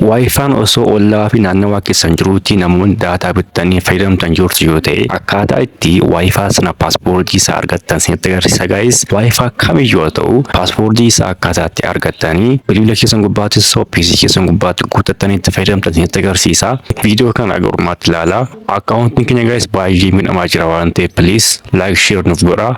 Waayifaan osoo ollaa fi naannawaa keessan jiruutti namoonni daataa bittanii fayyadamtan jirtu yoo ta'e akkaataa itti waayifaa sana paaswoordii isaa argattan isinitti agarsiisa gaayis waayifaa kamiyyuu haa ta'u paaswoordii isaa akkaataa itti argattanii bilbila keessan gubbaatti osoo PC keessan gubbaatti guuttattanii itti fayyadamtan isinitti agarsiisa viidiyoo kana aga dhumaatti ilaalaa akkaawuntiin keenya gaayis baay'ee miidhamaa jira waan ta'eef please like share nuuf godhaa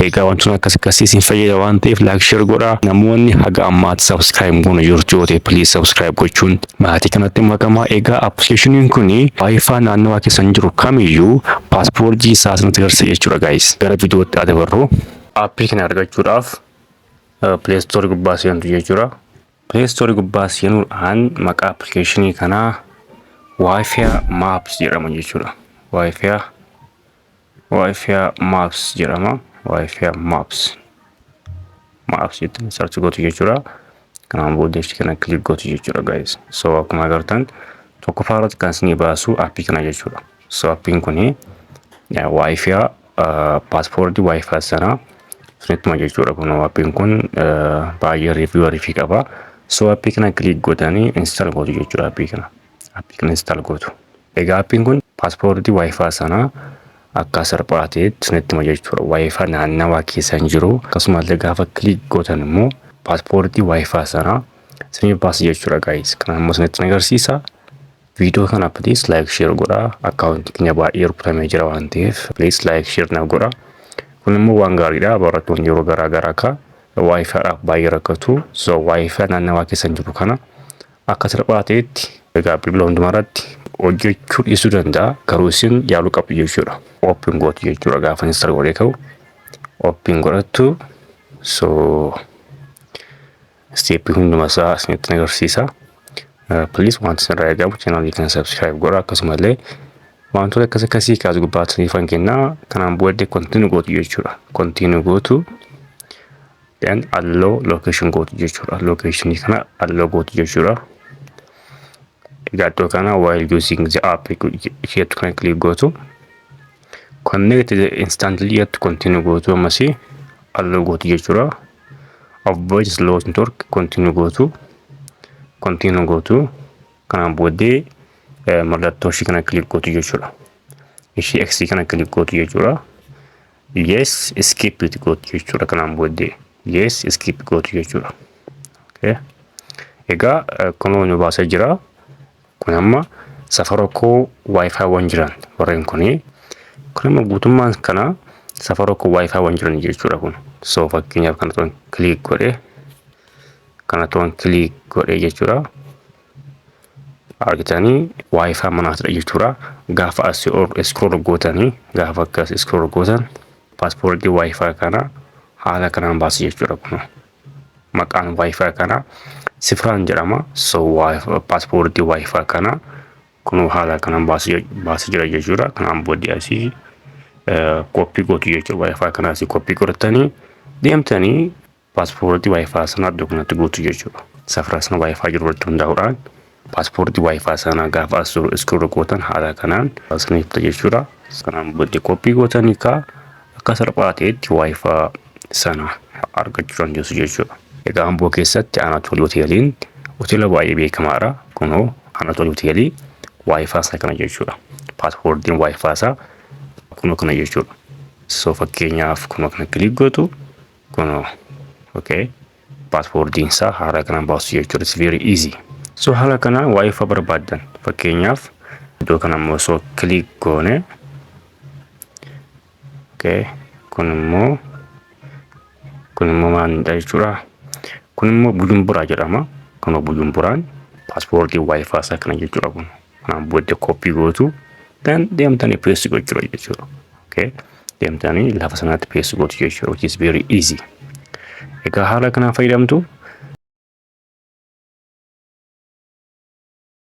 Egaa wantoonni akkas akkasii isin fayyada waan ta'eef like share godhaa. Namoonni haga ammaatti subscribe hin goone jirtu yoo ta'e please subscribe gochuun maatii kanatti makamaa. Egaa appilikeeshiniin kun wifi naannawaa keessan jiru kamiyyuu paaspoortii isaa isinitti agarsiisa jechuudha guys. Gara viidiyootti haa dabarru. Appii kana argachuudhaaf Play Store gubbaa seentu jechuudha. Play Store gubbaa seenuudhaan maqaa appilikeeshinii kanaa Wi-Fi Maps jedhama jechuudha. Wi-Fi Wi-Fi Maps jedhama. Wi-Fi Maps. Maps jettee search gootu jechuudha. Kanaan booda ishee kana click gootu jechuudha guys. So akkuma agartan tokkoffaa irratti kan isinii baasu appii kana jechuudha. So appiin kuni Wi-Fi paaspoortii Wi-Fi sanaa isinittuma jechuudha kun appiin kun baay'ee riiviiwarii fi qaba. So appii kana click gootanii install gootu jechuudha appii kana. appii kana install gootu. Egaa appiin kun paaspoortii waayifaa sana akka salphaa ta'etti isinitti hima jechuudha. Waayifaa naannawaa keessa hin jiru. Akkasumas gaafa kiliik gootan immoo paaspoortii waayifaa sana isiniif baasa jechuudha gaayis. Kana immoo isinitti agarsiisa. Viidiyoo kana please like share godhaa. Akkaawuntii keenya baay'ee rukutamee jira waan ta'eef please like share naaf godhaa. Kun immoo waan gaariidha. Barattoonni yeroo garaa garaa akka waayifaadhaaf baay'ee rakkatu. So waayifaa naannawaa keessa hin jiru kana akka salphaa ta'etti egaa bilbila hundumarratti hojjechuu dhiisuu danda'a garuu isin yaaluu qabdu jechuudha ooppiin gootu jechuudha gaafa install godhee ka'u ooppiin godhattu so isteeppii hundumasaa isinitti agarsiisa piliis wanti isinirraa eegamu chaanaalii kana sabskiraayib godha akkasumallee wantoota akkas akkasii kaas gubbaatti isiniifan kennaa kanaan booddee kontiinuu gootu jechuudha kontiinuu gootu then allow location gootu jechuudha location kana allow gootu jechuudha egaa iddoo kana while using the app jettu kana click gootu connect the instantly jettu continue gootu ammasii allow gootu jechuudha avoid slow network continue gootu continue gootu kanaan booddee mallattoo ishii kana click gootu jechuudha ishii x kana click gootu jechuudha yes skip itti gootu jechuudha kanaan booddee yes skip gootu jechuudha okay. egaa kunoo nu baasee jira kun amma safara koo wifi waan jiran warreen kuni kun amma guutummaan kana safara koo wifi waan jiran jechuudha kun so fakkeenyaaf kana toon kiliik godhe kana toon kiliik godhe jechuudha argitanii waayifaa manaatidha jechuudha gaafa as iskrool gootanii gaafa akkas iskrool gootan paaspoortii waayifaa kana haala kanaan baasa jechuudha kun maqaan waayifaa kana sifraan jedhama so paaspoortii waayifaa kana kun haala kanaan baasa jira jechuudha kanaan booddee asii koppii gootu jechuudha waayifaa kana asii koppii godhatanii deemtanii Paaspoortii Waayifaa sana iddoo kanatti guutu jechuudha. Safaraa sana Waayifaa jiru irratti hundaa'uudhaan paaspoortii Waayifaa sana gaafa as jiru iskiruu gootan haala kanaan isiniif ta'a jechuudha. Sanaan booddee koppii gootan hiikaa akka salphaa ta'etti Waayifaa sana argachuu dandeessu jechuudha. Egaa Amboo keessatti Anatoolii Hoteeliin hoteela baay'ee beekamaadha. Kunoo Anatoolii Hoteelii Waayifaa isaa kana jechuudha. Paaspoortiin Waayifaa isaa kunoo kana jechuudha. So fakkeenyaaf kunoo kana kiliik gootu Kunoo. Okay. Paaspoortiin isaa haaraa kanaan baasu jechuudha. It's very easy. So haala kanaan waa'ee faa barbaaddan fakkeenyaaf iddoo kana immoo osoo click goone okay. kun immoo kun immoo maalidha jechuudha. Kun immoo Bujumburaa jedhama. Kunoo Bujumburaan paaspoortii waa'ee faa isaa kana jechuudha kun. Kanaan booda koppii gootu dan deemtanii peessi gochuudha jechuudha. Okay. Deemtanii lafa sanaatti peessi gootu jechuudha which is very easy. Egaa haala kanaan fayyadamtu